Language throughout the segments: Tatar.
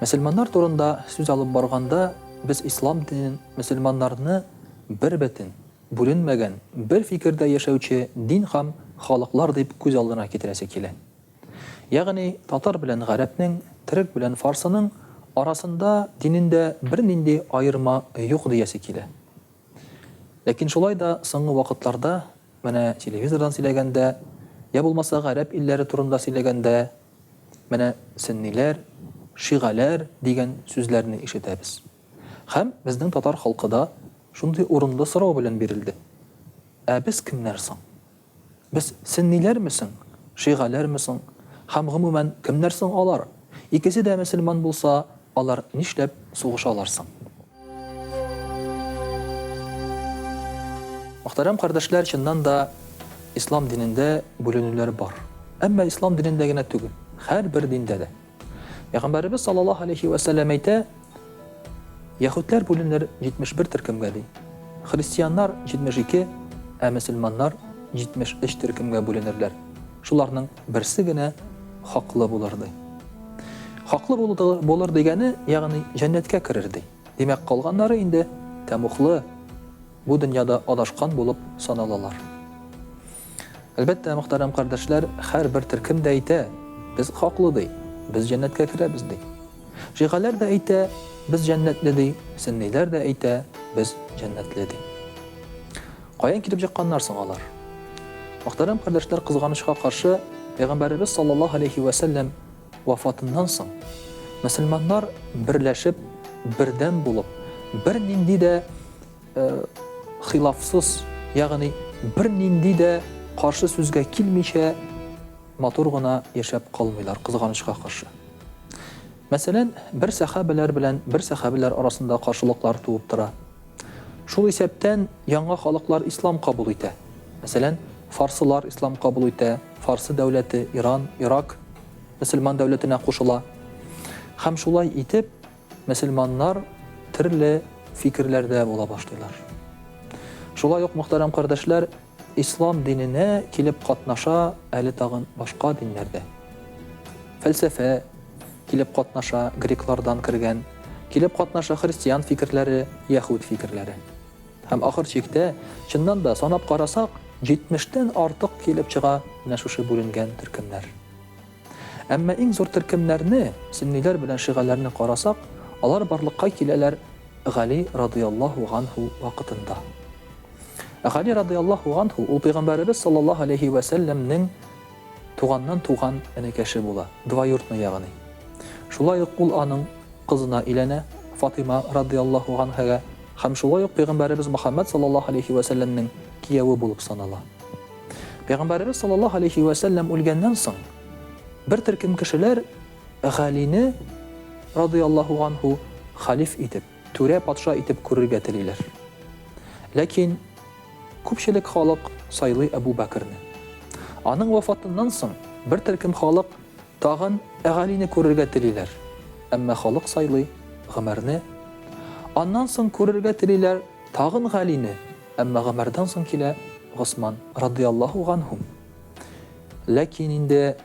Мөселманнар турында сүз алып барганда, без ислам динен мөселманнарны бербөтен, бүленмәгән, бер фикердә яшәүче дин һәм халыклар дип күз алдына китерәсе килә. Ягъни, татар белән гарәпнең, төрек белән фарсының арасында динендә бернинди аерма юк диясе килә. Ләкин шулай да соңгы вакытларда, менә телевизордан сөйләгәндә, йә булмаса гарәп илләре турында сөйләгәндә, Менә сөнниләр, шигаләр дигән сүзләрне ишетәбез. Һәм безнең татар халкы да шундый урынлы сорау белән бирелде, Ә без кемнәр соң? Без сөнниләрме соң, шигаләрме соң? Һәм, гомумән, кемнәр соң алар? Икесе дә мөселман булса, алар нишләп сугышалар соң? Мөхтәрәм кардәшләр, чыннан да ислам динендә бүленүләр бар. Әмма ислам динендә генә түгел, һәрбер диндә дә. Пәйгамбәребез саллаллаһу алейхи ва сәлләм әйтә, яһүдләр бүленер 71 төркемгә ди. Христианнар 72, ә мөселманнар 73 төркемгә бүленерләр. Шуларның Берсе генә хаклы булыр, ди. Хаклы булыр дигәне, ягъни җәннәткә керер, ди. Димәк, калганнары инде тәмуглы, бу дөньяда адашкан булып саналалар. Әлбәттә, мөхтәрәм кардәшләр, һәрбер төркем дә әйтә, без хаклы, ди, без җәннәткә керәбез, ди. Шигаләр дә әйтә, без җәннәтле, ди, сөнниләр дә әйтә, без җәннәтле, ди. Каян килеп чыкканнар соң алар? Мөхтәрәм кардәшләр, кызганычка каршы, Пәйгамбәребез саллаллаһу алейһи вә сәлләм вафатыннан соң, мөселманнар берләшеп, бердәм булып, бернинди дә хилафсыз, ягъни бернинди дә каршы сүзгә килмичә матур гына яшәп калмыйлар, кызганычка каршы. Мәсәлән, бер сәхабәләр белән бер сәхабәләр арасында каршылыклар туып тора. Шул исәптән яңа халыклар ислам кабул итә. Мәсәлән, фарсылар ислам кабул итә, Фарсы дәүләте, Иран, Ирак мөселман дәүләтенә кушыла. Һәм шулай итеп, мөселманнар төрле фикерләрдә була башлыйлар. Шулай ук, мөхтәрәм кардәшләр, Ислам диненә килеп катнаша әле тагын башка диннәр дә. Фәлсәфә килеп катнаша, греклардан кергән, килеп катнаша христиан фикерләре, яһүд фикерләре. Һәм ахыр чиктә, чыннан да, санап карасак, җитмештән артык килеп чыга менә шушы бүленгән төркемнәр. Әмма иң зур төркемнәрне, сөнниләр белән шигәләрне карасак, алар барлыкка киләләр Гали радыяллаһу ганһу вакытында. Ә Гали радыяллаһу ганһу ул Пәйгамбәребез саллаллаһу алейһи вә сәлләмнең туганнан туган энекәше була, двоюртный ягъни. Шулай ук ул аның кызына өйләнә, Фатыйма радыяллаһу ганһәгә, һәм шулай ук Пәйгамбәребез Мөхәммәд саллаллаһу алейһи вә сәлләмнең кияве булып санала. Пәйгамбәребез саллаллаһу алейһи вә сәлләм үлгәннән соң, бер төркем кешеләр Галине, радыяллаһу анһу, халиф итеп, түрә патша итеп күрергә телиләр. Ләкин күпчелек халык сайлый Әбу Бәкерне. Аның вафатыннан соң, бер төркем халык Тагын Галине күрергә телиләр, әмма халык сайлый Гомәрне. Аннан соң күрергә телиләр тагын Галине, әмма Гомәрдән соң килә Госман, радыяллаһу ганһум. Ләкин инде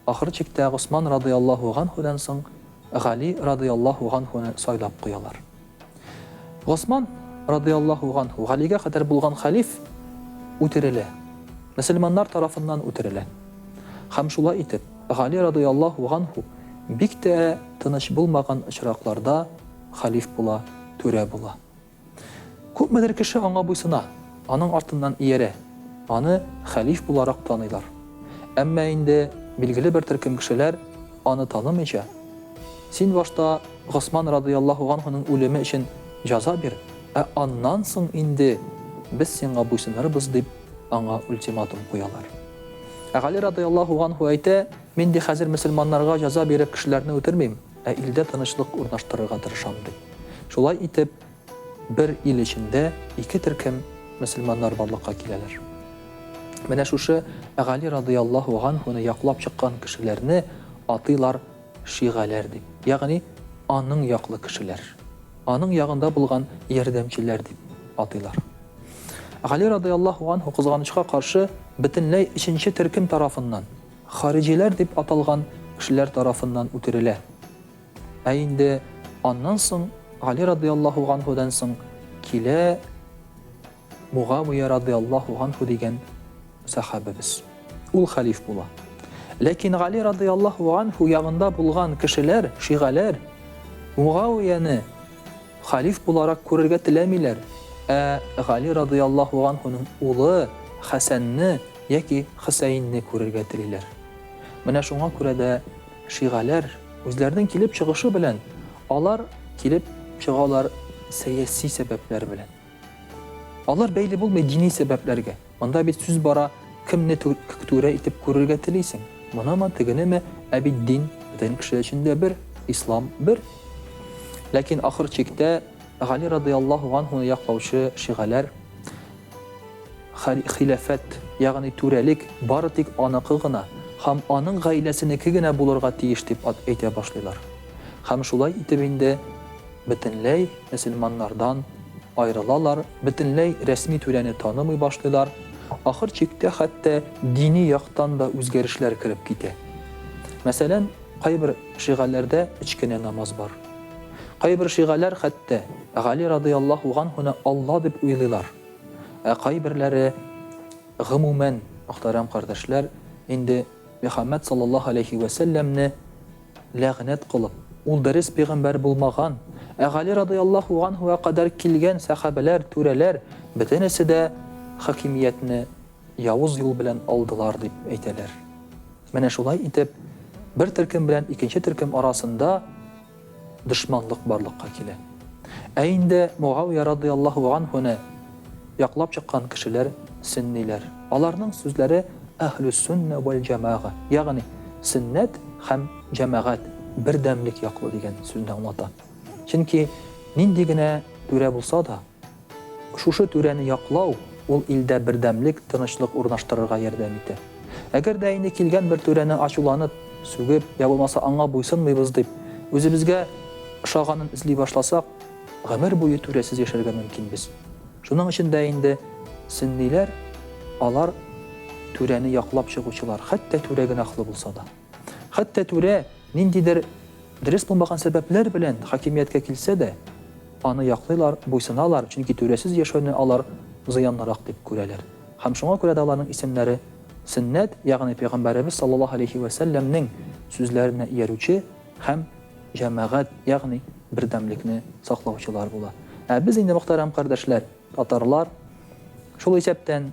ахыр чиктә Госман, радыяллаһу ганһудан соң, Гали, радыяллаһу ганһуны сайлап куялар. Госман, радыяллаһу ганһу, Галигә кадәр булган хәлиф, үтерелә. Мөселманнар тарафыннан үтерелә. Һәм шулай итеп, Гали, радыяллаһу ганһу, бик тә тыныч булмаган очракларда хәлиф була, түрә була. Күпмедер кеше аңа буйсына. Аның артыннан иярә, аны хәлиф буларак таныйлар. Әмма инде билгеле бер төркем кешеләр аны танымыйча, Син башта Госман радыйяллаһу ганһуның үлеме өчен җаза бир, ә аннан соң инде без сиңа буйсынырбыз, дип, аңа ультиматум куялар. Ә Гали радыйяллаһу ганһу әйтә, Мин ди хәзер мөселманнарга җаза биреп кешеләрне үтермим, ә илдә тынычлык урнаштырырга тырышам, ди. Шулай итеп. Бер ил эчендә ике төркем мөселманнар барлыкка киләләр. Менә шушы Гали радыяллаһу ганһуны яклап чыккан кешеләрне атыйлар шигаләр дип, ягъни аның яклы кешеләр, аның ягында булган ярдәмчеләр дип атыйлар. Гали радыяллаһу ганһу, кызганычка каршы, бөтенләй өченче төркем тарафыннан, хариҗиләр дип аталган кешеләр тарафыннан үтерелә. Ә инде аннан соң Гали радыяллаһу ганһудан соң килә Мугавия радыяллаһу ганһу дигән сәхабәбез. Ул хәлиф була. Ләкин Гали радыяллаһу ганһу ягында булган кешеләр, шигаләр Мугавияне хәлиф буларак күрергә теләмиләр, ә Гали радыяллаһу ганһуның улы Хәсәнне яки Хөсәенне күрергә телиләр. Менә шуңа күрә дә Шигаләр, үзләренең килеп чыгышы белән, алар килеп чыгалар сәяси сәбәпләр белән. Алар бәйле булмый дини сәбәпләргә. Монда бит сүз бара, кемне түрә итеп күрергә телисең, моныме, тегенеме, ә бит дин бөтен кеше өчен дә бер, ислам бер. Ләкин ахыр чиктә Гали радый Аллаһу ганһуны яклаучы шигаләр, Хилафәт, ягъни түрәлек, бары тик аныкы гына һәм аның гаиләсенеке генә булырга тиеш дип әйтә башлыйлар. Һәм шулай итеп инде бөтенләй мөселманнардан аерылалар, бөтенләй рәсми түрәне танымый башлыйлар, ахыр чиктә хәтта дини яктан да үзгәрешләр кереп китә. Мәсәлән, кайбер шигаләрдә өч кенә намаз бар. Кайбер шигаләр хәтта Гали радыяллаһу ганһуны Алла дип уйлыйлар. Ә кайберләре, гомумән, мөхтәрәм кардәшләр, инде Мөхәммәд саллаллаһу галәйһи вә сәлләмне ләгънәт кылып, ул дөрес пигамбәр булмаган, ә Гали радыяллаһу ганһуга кадәр килгән сәхабәләр, түрәләр, бөтенесе дә хакимиятне явыз юл белән алдылар дип әйтәләр. Менә шулай итеп, бер төркем белән икенче төркем арасында дошманлык барлыкка килә. Ә инде Мугавия радыяллаһу ганһуны яклап чыккан кешеләр сөнниләр. Аларның сүзләре Әһлүссүннә вәл-җәмәга, ягъни сөннәт һәм җәмәгать, бердәмлек яклы дигән сүзне аңлата. Чөнки нинди генә түрә булса да, Шушы түрәне яклау, ул илдә бердәмлек, тынычлык урнаштырырга ярдәм итә. Әгәр дә инде килгән бер түрәне ачуланып, сүгеп, йә булмаса аңа буйсынмыйбыз дип, үзебезгә ошаганын эзли башласак, гомер буе түрәсез яшәргә мөмкинбез. Шуның өчен дә инде сөнниләр, алар, түрәне яклап чыгучылар, хәтта түрә гөнаһлы булса да. Хәтта түрә ниндидер дөрес булмаган сәбәпләр белән хакимияткә килсә дә, аны яклыйлар, буйсыналар, чөнки түрәсез яшәүне алар зыянлырак дип күрәләр. Һәм шуңа күрә дә аларның исемнәре Сөннәт, ягъни Пәйгамбәребез саллаллаһу галәйһи вә сәлләмнең сүзләренә иярүче һәм җәмәгать, ягъни бердәмлекне саклаучылар була. Ә без инде, мөхтәрәм кардәшләр, татарлар, шул исәптән,